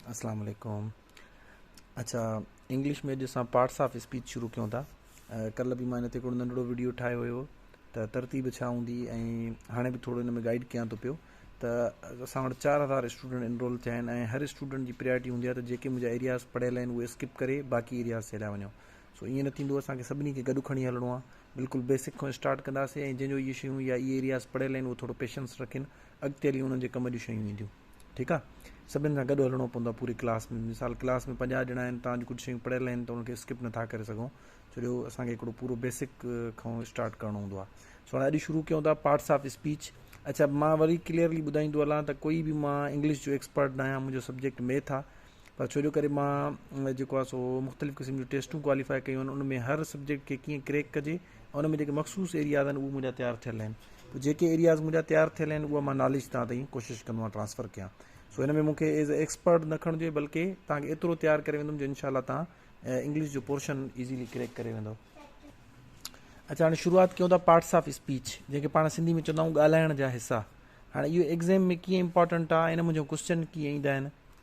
اسلام عليڪم اچا انگلش ۾ اڄ اسان پارٽس آف اسپيچ شروع ڪيون ٿا ڪل به مان هن تي هڪڙو ننڍڙو ويڊيو ٺاهيو هيو ته ترتيب ڇا هوندي ۽ هاڻي به ٿورو هن ۾ گائيڊ ڪيان ٿو پيو ته اسان وٽ چار هزار اسٽوڊنٽ انرول ٿيا آهن ۽ هر اسٽوڊنٽ جي پريارٽي هوندي آهي ته جيڪي منهنجا ايرياز پڙهيل آهن اهي اسڪپ ڪري باقي ايرياز تي هليا وڃو سو ائين نه ٿيندو اسانکي سڀني کي گڏ کڻي هلڻو آهي بلڪل بيسڪ کان اسٽارٽ ڪنداسين ۽ جنهن جو اهي شيون يا اهي ايرياز پڙهيل آهن اهو ٿورو پيشنس رکين اڳتي هلي انهن جي ڪم جون شيون اينديون ٺيڪ آ سڀن سان گڏ هلڻو پوندو آ پوري ڪلاس ۾ مثال ڪلاس ۾ پنجاهه ڄڻا آهن توهان جون ڪجهه شيون پڙهيل آهن ته ان کي اسڪپ نٿا ڪري سگهو ڇو جو اسان کي هڪڙو پورو بيسڪ کان اسٽارٽ ڪرڻو هوندو آ سو هاڻي اڄ شروع ڪيون ٿا پارٽس آف اسپيچ اچھا مان وري ڪليئرلي ٻڌائيندو هلان ته ڪوئي به مان انگلش جو ايڪسپرٽ ناهيان منهنجو سبجيڪٽ ميٿ آ پر ڇو جو ڪري مان جيڪو آ سو مختلف قسم جون ٽيسٽون ڪواليفائي ڪيون آهن ان ۾ هر سبجيڪٽ کي ڪيئن ڪريڪ ڪجي ان ۾ جيڪي مخصوص ايرياز آهن اهي منهنجا تيار ٿيل آهن ته جيڪي ايرياز منهنجا تيار ٿيل آهن اهي مان ناليج تان تائين ڪوشش ڪندو آهيان ٽرانسفر ڪيان سو ان ۾ مون کي ايز اي ايڪسپرٽ نه کڻجو اهي بلڪه تان کي ايترو تيار ڪري ويندم جو انشاء الله تان انگلش جو پورشن ايزيلي ڪريڪ ڪري ويندو اچا هاڻي شروعات ڪيون ٿا پارٽس آف اسپيچ جنهن کي پاڻ سنڌي ۾ چوندا آهيون ڳالهائڻ جا حصا هاڻي اهو ايگزام ۾ ڪيئن امپورٽنٽ آهي ان منهنجو ڪوشچن ڪيئن ايندا آهن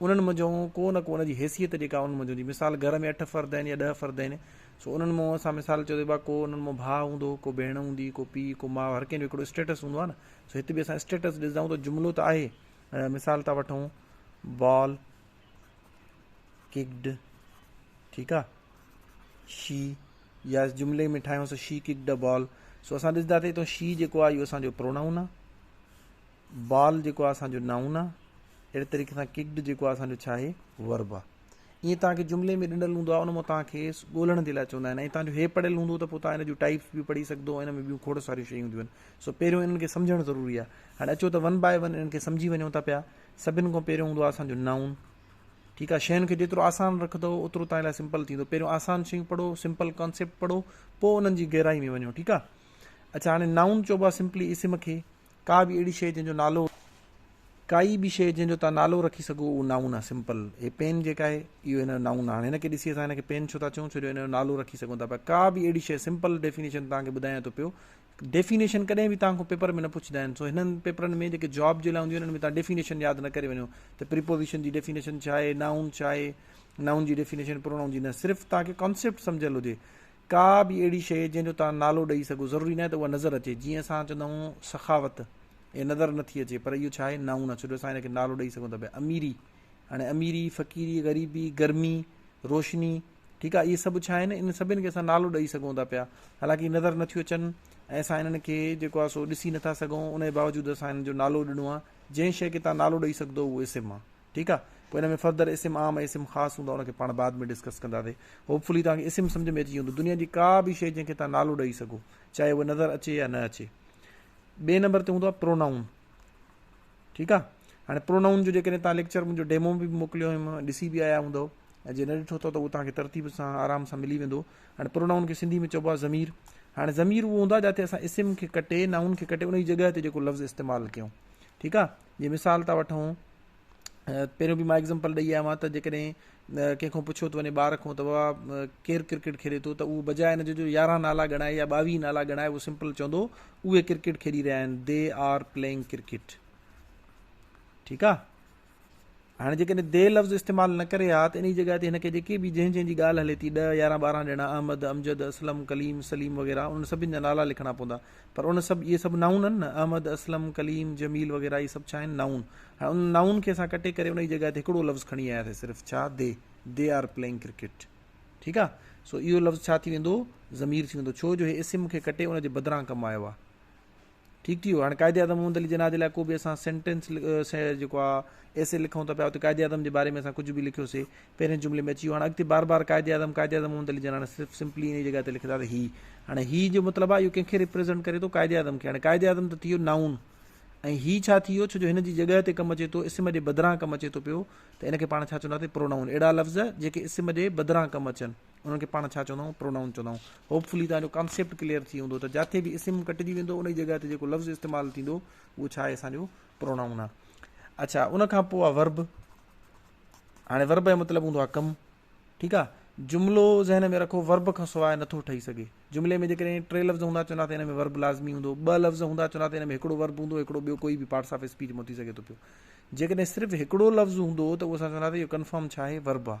انهن منجهون ڪو نه ڪو ان جي حيثيت جيڪا انهن منجهون جي مثال گهر ۾ اٺ فرد آهن يا ڏهه فرد آهن سو انهن مون اسان مثال چيو ته ڪو انهن مون ڀاء هوندو ڪو ڀيڻ هوندي ڪو پيء ڪو ماء هر ڪنهن جو هڪڙو اسٽيٽس هوندو آهي نه سو هت به اسان اسٽيٽس ڏسندا آهيون ته جملو ته آهي مثال ٿا وٺون بال ڪڪڊ ٺيڪ آهي شي يا جملي ۾ ٺاهيون سو شي ڪڪڊ بال سو اسان ڏسنداسي تو شي جيڪو آهي اهو اسانجو پرونائون آهي بال جيڪو آهي اسان جو نائون آهي اهڙي طريقي سان ڪڪڊ جيڪو آهي اسان جو ڇا آهي ورب آهي ائين توهان کي جملي ۾ ڏنل هوندو آهي ان مان توهان کيس ڳولڻ جي لاء چوندا آهن ۽ توهان جو هي پڙهيل هوندو ته پوء توهان هن جون ٽائپس به پڙهي سگهندو ان ۾ ٻيون کوڙ ساريون شيون هونديون آهن سو پهريون انهن کي سمجهڻ ضروري آهي هاڻي اچو ته ون باء ون انهن کي سمجهي وڃو ٿا پيا سڀني کان پهريون هوندو آهي اسان جو نائون ٺيڪ آ شين کي جيترو آسان رکندو اوترو تان لاء سمپل ٿيندو پهريون آسان شيون پڙهو سمپل ڪانسيپٽ پڙهو پوء انهن جي گهرائي ۾ وڃو ٺيڪ آ اچھا هاڻي نائون چوبا سمپلي اسم کي ڪا به اهڙي شيء جنهن جو نالو. ڪائي به شيء جنهن جو توهان نالو رکي سگهو اهو نائون آهي سمپل هي پين جيڪا آهي اهو هن جو نائون آهي هاڻي هن کي ڏسي اسان هن کي پين ڇو ٿا چئون ڇو جو هن جو نالو رکي سگهون ٿا پيا ڪا به اهڙي شيء سمپل ڊيفينيشن توهان کي ٻڌايان ٿو پيو ڊيفينيشن ڪڏهن به توهان کان پيپر ۾ نه پڇندا آهن سو هنن پيپرن ۾ جيڪي جاب جي لاء هونديون آهن ان ۾ توهان ڊيفينيشن ياد نه ڪري وڃو ته پريپوزيشن جي ڊيفينيشن ڇا آهي نائون ڇا آهي نائون جي ڊيفينيشن پرونائون جي نه صرف توهان کي ڪانسيپٽ سمجهيل هجي ڪا به اهڙي شيء جنهن جو توهان نالو ڏئي سگهو، ضروري ناهي ته اها نظر اچي، جيئن اسان چوندا آهيون سخاوت، اهي نظر نه ٿي اچي، پر اهو ڇا آهي نائون آهي، ڇو جو اسان ان کي نالو ڏئي سگهون ٿا پيا، اميري، هاڻي اميري، فقيري، غريبي، گرمي، روشني، ٺيڪ آهي، اهي سڀ ڇا آهن، انهن سڀني کي اسان نالو ڏئي سگهون ٿا پيا، حالانڪه اهي نظر نٿيون اچن ۽ اسان انهن کي جيڪو آهي سو ڏسي نٿا سگهون، انهي باوجود اسان انهن جو نالو ڏنو آهي، جنهن شيء کي توهان نالو ڏئي سگهدؤ اهو اسم آهي. ٺيڪ آ پوء ان ۾ فردر اسم عام ۽ اسم خاص هوندا ان کي پاڻ بعد ۾ ڊسڪس ڪنداسي هوپ فلي توهان کي اسم سمجھ ۾ اچي ويندو دنيا جي ڪا به شي جنهن کي توهان نالو ڏئي سگهو چاهي اهو نظر اچي يا نه اچي ٻئي نمبر تي هوندو آ پرونائون ٺيڪ آ هاڻي پرونائون جو جيڪڏهن توهان ليڪچر منهنجو ڊيمو به موڪليو هيم ڏسي به آيا هوندو ۽ جي نه ڏٺو اٿو ته اهو توهان کي ترتيب سان آرام سان ملي ويندو هاڻي پرونائون کي سنڌي ۾ چئبو آ ضمير هاڻي ضمير اهو هوندا جاتي اسان اسم کي ڪٽي نائون کي ڪٽي ان جي جڳهه تي جيڪو لفظ استعمال ڪيون ٺيڪ آ جي مثال ٿا وٺون پهريون به مان ايگزامپل ڏئي آيو آهيان ته جيڪڏهن ڪنهن کان پڇيو ٿو وڃي ٻار کان ته بابا ڪير ڪرڪيٽ کيڏي ٿو ته اهو بجاء ان جي جو يارهن نالا ڳڻائي يا ٻاويهه نالا ڳڻائي اهو سمپل چوندو اهي ڪرڪيٽ کيڏي رهيا آهن دي آر پلينگ ڪرڪيٽ ٺيڪ آ هاڻي جيڪڏهن ديهه لفظ استعمال نه ڪري ها ته انهيء جي جڳهه تي هن کي جيڪي به جنهن جنهن جي ڳالهه هلي ٿي ڏهه يارهن ٻارهن ڄڻا احمد، امجد، اسلم، ڪليم، سليم وغيره انهن سڀن جا نالا لکڻا پوندا پر ان سڀ اهي سڀ نائون آهن نه احمد، اسلم، ڪليم، جميل وغيره اهي سڀ ڇا آهن نائون هاڻي انهن نائون کي اسان ڪٽي ڪري انهيء جڳهه تي هڪڙو لفظ کڻي آياسي صرف ڇا دي They are playing cricket ٺيڪ آهي سو اهو لفظ ڇا ٿي ويندو ضمير ٿي ويندو ڇو جو هي اسم کي ڪٽي ان جي بدران ڪم آيو آهي. ٺيڪ ٺيڪ هاڻي قائد اعظم محمد علي جناح جي لاء ڪو به اسان سينٽينس جيڪو آ ايسي لکون ٿا پيا اتي قائد اعظم جي باري ۾ اسان ڪجهه به لکيوسي پهرين جملي ۾ اچي ويو هاڻي اڳتي بار بار قائد اعظم قائد اعظم محمد علي جناح نه صرف سمپلي انهي جڳهه تي لکندا ته هي هاڻي هي جو مطلب آ اهو ڪنهن کي ريپريزنٽ ڪري ٿو قائد اعظم کي هاڻي قائد اعظم ته ٿي ويو نائون ۽ هي ڇا ٿي ويو ڇو جو هن جي جڳهه تي ڪم اچي ٿو اسم جي بدران ڪم اچي ٿو پيو ته ان کي پاڻ ڇا چونداسي پرونائون اهڙا لفظ جيڪي اسم جي بدران ڪم اچن انهن کي پاڻ ڇا چوندائون؟ پرونائون چوندائون. هوپ فلي توهان جو ڪانسيپٽ ڪليئر ٿي هوندو ته جاتي به اسم ڪٽجي ويندو ان جي جڳهه تي جيڪو لفظ استعمال ٿيندو اهو ڇا آهي اسان جو پرونائون آهي. اڇا ان کان پوء آهي ورب. هاڻي ورب جو مطلب هوندو آهي ڪم. ٺيڪ آهي. جملو ذهن ۾ رکو ورب کان سواء نٿو ٺهي سگهي. جملي ۾ جيڪڏهن ٽي لفظ هوندا چوندا ته ان ۾ ورب لازمي هوندو. ٻه لفظ هوندا چوندا ته ان ۾ هڪڙو ورب هوندو هڪڙو ٻيو ڪوئي به پارٽس آف اسپيچ مون ٿي سگهي ٿو پيو. جيڪڏهن صرف هڪڙو لفظ هوندو ته اهو اسان چوندا ته اهو ڪنفرم ڇا آهي ورب آهي.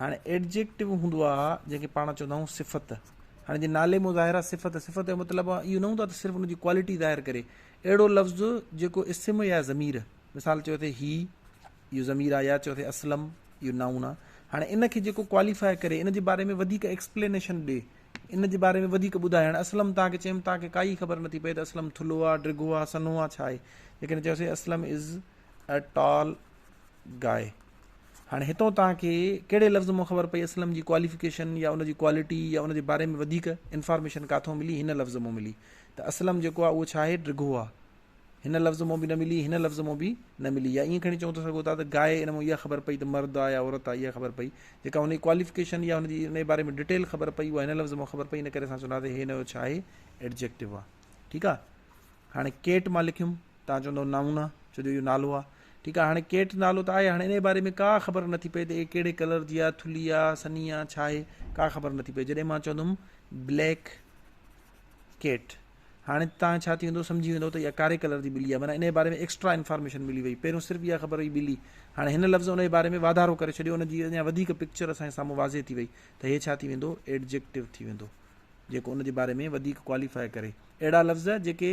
هاڻي Adjective هوندو آ جنهن کي پاڻ چوندا آهيون صفت. هاڻي جي نالي مظاهره صفت، صفت جو مطلب اهو نه هوندو آ ته صرف ان جي ڪوالٽي ظاهر ڪري. اهڙو لفظ جيڪو اسم يا ضمير، مثال چيو اٿئي هي، اهو ضمير آ يا چيو اٿئي اسلم، اهو نائون آ. هاڻي ان کي جيڪو ڪواليفاء ڪري، ان جي باري ۾ وڌيڪ ايڪسپلينيشن ڏي، ان جي باري ۾ وڌيڪ ٻڌائي. هاڻي اسلم توهان کي چيم توهان کي ڪائي خبر نٿي پئي ته اسلم ٿلهو آ، ڊگهو آ، سنهو آ، ڇا آهي. جيڪڏهن چيوسين اسلم از. A tall guy هاڻي هتون توهان کي ڪهڙي لفظ مان خبر پئي اسلم جي ڪواليفڪيشن يا ان جي ڪوالٽي يا ان جي باري ۾ وڌيڪ انفارميشن ڪاٿو ملي هن لفظ مان ملي ته اسلم جيڪو آهي اهو ڇا آهي ڊگهو آهي هن لفظ مان به نه ملي هن لفظ مان به نه ملي يا ائين کڻي چون ٿا سگهو ٿا ته گاء ان مان اها خبر پئي ته مرد آهي يا عورت آهي اها خبر پئي جيڪا هن جي ڪواليفڪيشن يا هن جي ان جي باري ۾ ڊيٽيل خبر پئي اها هن لفظ مان خبر پئي ان ڪري اسان چونداسي هي هن جو ڇا آهي ايڊجيڪٽو آهي ٺيڪ آهي هاڻي ڪيٽ مان لکيم توهان چوندؤ نائونا ڇو جو اهو نالو آ. ٺيڪ آ هاڻي ڪيٽ نالو ته آهي هاڻي انهيء باري ۾ ڪا خبر نٿي پئي ته اهي ڪهڙي ڪلر جي آ ٿلهي آ سنهي آ ڇا آهي ڪا خبر نٿي پئي جڏهن مان چوندم بليڪ ڪيٽ هاڻي تان ڇا ٿي ويندو سمجهي ويندؤ ته اها ڪاري ڪلر جي ٻلي آ معنيٰ انهيء باري ۾ ايڪسٽرا انفارميشن ملي وئي پهريون صرف اها خبر هئي ٻلي هاڻي هن لفظ انهيء باري ۾ واڌارو ڪري ڇڏيو ان جي اڃا وڌيڪ پڪچر اسان جي سامهون واضح ٿي وئي ته هي ڇا ٿي ويندو ايڊجيڪٽو ٿي ويندو جيڪو ان جي باري ۾ وڌيڪ ڪواليفائي ڪري اهڙا لفظ جيڪي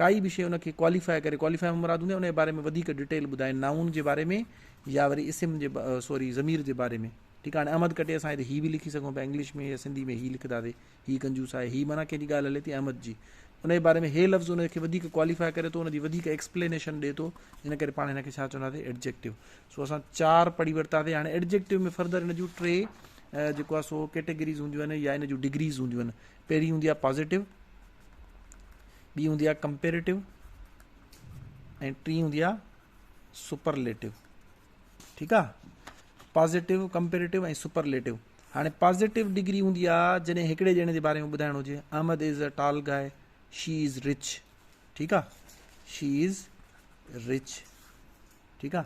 ڪائي به شيء ان کي ڪواليفاء ڪري، ڪواليفاء مان مراد هوندي آهي ان جي باري ۾ وڌيڪ ڊيٽيل ٻڌائي، نائون جي باري ۾ يا وري اسم جي سوري ضمير جي باري ۾، ٺيڪ آهي هاڻي احمد کٽي اسان هتي هي به لکي سگهون پيا انگلش ۾ يا سنڌي ۾ هي لکنداسين، هي ڪنجوس آهي، هي معنيٰ ڪنهن جي ڳالهه هلي ٿي احمد جي، ان جي باري ۾ هي لفظ ان کي وڌيڪ ڪواليفاء ڪري ٿو، ان جي وڌيڪ ايڪسپلينيشن ڏئي ٿو، ان ڪري پاڻ هن کي ڇا چونداسين ايڊجيڪٽو، سو اسان چار پڙهي ورتاسين، هاڻي ايڊجيڪٽو ۾ فردر ان جون ٽي جيڪو آهي سو ڪيٽيگريز هونديون آهن يا ان جون ڊگريز هونديون آهن، پهرين هوندي آهي پازيٽو، ٻي هوندي آهي ڪمپيريٽو ۽ ٽي هوندي آهي سپرليٽو ٺيڪ آ پازيٽو ڪمپيريٽو ۽ سپرليٽو هاڻي پازيٽو ڊگري هوندي آ جڏهن هڪڙي ڄڻي جي باري ۾ ٻڌائڻ هجي Ahmed is a ٽال گائي she is rich ٺيڪ آ شي از رچ ٺيڪ آ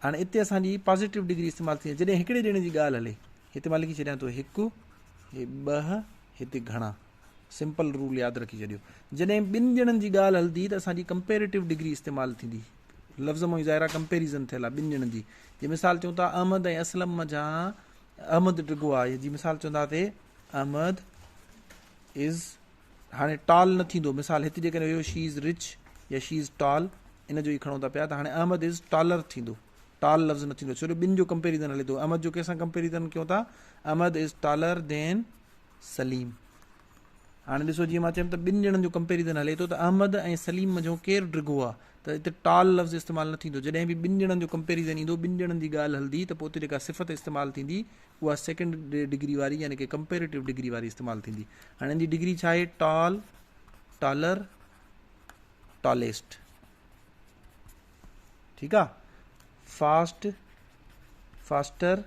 هاڻي اتي اسان جي پازيٽو ڊگري استعمال ٿي جڏهن هڪڙي ڄڻي جي ڳالهه هلي هتي مان لکي ڇڏيان ٿو هڪ هي ٻه هتي گهڻا سمپل رول ياد رکي ڇڏيو جڏهن ٻن ڄڻن جي ڳالهه هلندي ته اسان جي ڪمپيريٽو ڊگري استعمال ٿيندي لفظ مئو ظاهر آ ڪمپيريزن ٿيل آ ٻن ڄڻن جي جي مثال چون ٿا احمد ۽ اسلم منجهان احمد ڊگهو آ جي مثال چونداسي احمد از هاڻي ٽال نه ٿيندو مثال هت جيڪڏهن هيو شي از رچ يا شي از ٽال ان جو ئي کڻو ٿا پيا ته هاڻي احمد از ٽالر ٿيندو ٽال لفظ نه ٿيندو ڇو جو ٻن جو ڪمپيريزن هلي ٿو احمد جو ڪنهن سان ڪمپيريزن ڪيو ٿا احمد از ٽالر دين سليم، هاڻي ڏسو جيئن مان چيم ته ٻن ڄڻن جو ڪمپيريزن هلي ٿو ته احمد ۽ سليم منجهو ڪير ڊگهو آ ته اتي ٽال لفظ استعمال نه ٿيندو جڏهن به ٻن ڄڻن جو ڪمپيريزن ايندو ٻن ڄڻن جي ڳالهه هلندي ته پوء اتي جيڪا صفت استعمال ٿيندي اها سيڪنڊ ڊگري واري يعني ڪي ڪمپيريٽو ڊگري واري استعمال ٿيندي هاڻي ان جي ڊگري ڇا آهي ٽال ٽالر ٽاليسٽ ٺيڪ آ فاسٽ فاسٽر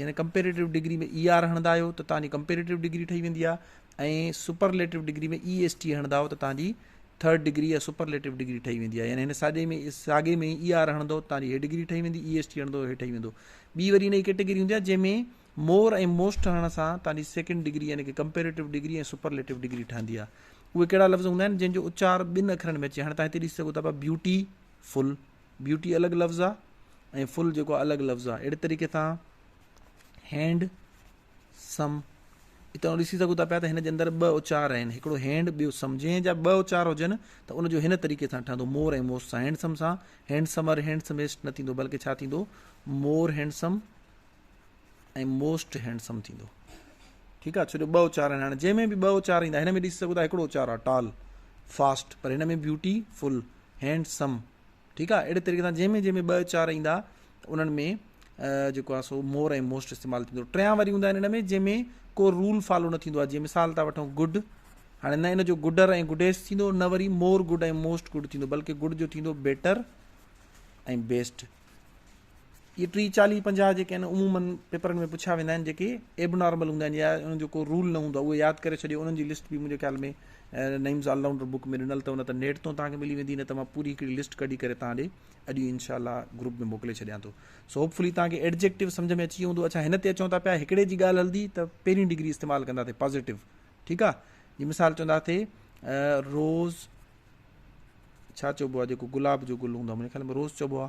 يعني ڪمپيريٽو ڊگري ۾ اي آر هڻندا آهيو ته تهان جي ڪمپيريٽو ڊگري ٺهي ويندي آهي ۽ superlative degree ۾ E S T هڻندا آهيو ته تهان جي ٿرڊ ڊگري يا سپرليٽو ڊگري ٺهي ويندي آهي يعني هن ساڳي ۾ ساڳي ۾ اي آر هڻندو تهان جي هي ڊگري ٺهي ويندي اي ايس ٽي هڻندو هي ٺهي ويندو ٻي وري هن جي ڪيٽيگري هوندي آهي جنهن ۾ مور ۽ موسٽ هڻڻ سان تهان جي سيڪنڊ ڊگري يعني ڪي ڪمپيريٽو ڊگري ۽ سپرليٽو ڊگري ٺهندي آهي اهي ڪهڙا لفظ هوندا آهن جن جو اچار ٻن اکرن ۾ اچي هاڻي تهان هتي ڏسي سگهو ٿا پيا بيوٽي فل بيوٽي الڳ لفظ آ ۽ فل جيڪو آ الڳ لفظ آ اهڙي طريقي سان هينڊ سم اتان ڏسي سگهو ٿا پيا ته هن جي اندر ٻه اچار آهن هڪڙو هينڊ ٻيو سم جنهن جا ٻه اچار هجن ته ان جو هن طريقي سان ٺهندو مور ۽ موس سان هينڊسم سان هينڊسمر هينڊسميسٽ نه ٿيندو بلڪه ڇا ٿيندو مور هينڊسم ۽ موسٽ هينڊسم ٿيندو ٺيڪ آ ڇو جو ٻه اچار آهن هاڻي جنهن ۾ به ٻه اچار ايندا هن ۾ ڏسي سگهو ٿا هڪڙو اچار آ ٽال فاسٽ پر هن ۾ بيوٽي فل هينڊسم ٺيڪ آ اهڙي طريقي سان جنهن ۾ جنهن ۾ ٻه چار ايندا انهن ۾ جيڪو آ سو مور ۽ موسٽ استعمال ٿيندو ٽيان وري هوندا آهن ان ۾ جنهن ۾ ڪو رول فالو نه ٿيندو آ جيئن مثال ٿا وٺون گڊ هاڻي نه ان جو گڊر ۽ گڊيس ٿيندو نه وري مور گڊ ۽ موسٽ گڊ ٿيندو بلڪه گڊ جو ٿيندو بيٽر ۽ بيسٽ اهي ٽي چاليهه پنجاهه جيڪي آهن عموماً پيپرن ۾ پڇيا ويندا آهن جيڪي ايبنارمل هوندا آهن يا انهن جو ڪو رول نه هوندو آهي اهي ياد ڪري ڇڏيو انهن جي لسٽ به منهنجي خيال ۾ نعيمز آل رائونڊر بڪ ۾ ڏنل اٿو نه ته نيٽ تون توهان کي ملي ويندي نه ته مان پوري هڪڙي لسٽ ڪڍي ڪري توهان ڏي اڄ ئي انشاء الله گروپ ۾ موڪلي ڇڏيان ٿو سو هوپ فلي توهان کي ايڊجيڪٽو سمجھ ۾ اچي ويو هوندو اڇا هن تي اچون ٿا پيا هڪڙي جي ڳالهه هلندي ته پهرين ڊگري استعمال ڪندا ٿي پازيٽو ٺيڪ آ جي مثال چوندا ٿي روز ڇا چئبو آ جيڪو گلاب جو گل هوندو آ منهنجي خيال ۾ روز چئبو آ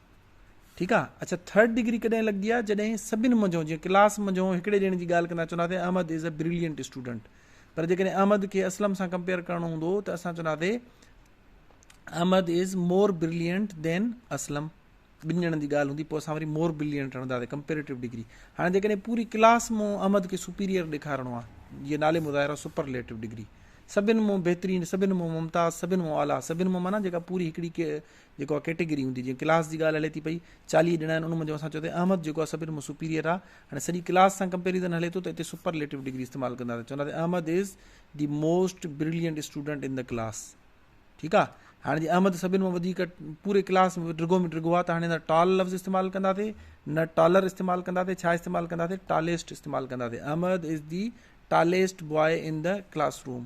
ٺيڪ آ اڇا ٿرڊ ڊگري ڪڏهن لڳي آ جڏهن سڀن منجهو جي ڪلاس منجهو هڪڙي ڄڻي جي ڳالهه ڪندا چونداسي Ahmed is a brilliant student پر جيڪڏهن احمد کي اسلم سان ڪمپيئر ڪرڻو هوندو ته اسان چونداسي احمد از مور بريلينٽ دين اسلم ٻن ڄڻن جي ڳالهه هوندي پوء اسان وري مور برلينٽ هڻنداسي ڪمپيريٽو ڊگري هاڻي جيڪڏهن پوري ڪلاس مون احمد کي سپيريئر ڏيکارڻو آهي جي نالي مظاهرو سپرليٽو ڊگري سڀن مون بهترين سڀن مون ممتاز سڀن مون اعليٰ سڀن مون مانا جيڪا پوري هڪڙي جيڪو اھا ڪيٽيگري ھوندي جيئن ڪلاس جي ڳالھ ھلي ٿي پئي چاليھه ڄڻا آھن ان منجھو اسان چيو تھ احمد جيڪو آھي سڀن مان سپيريئر آھي ھاڻي سڄي ڪلاس سان ڪمپيريزن ھلي ٿو تھ اتي سپرليٽو ڊگري استعمال ڪنداسين چونداسين Ahmed is the most brilliant student in the class ٺيڪ آ ھاڻي جي احمد سڀن مان وڌيڪ پوري ڪلاس ۾ ڊگھو ۾ ڊگھو آ تھ ھاڻي ٽال لفظ استعمال ڪنداسين نه ٽالر استعمال ڪنداسين ڇا استعمال ڪنداسين ٽاليسٽ استعمال ڪنداسين Ahmed is the tallest boy in the class room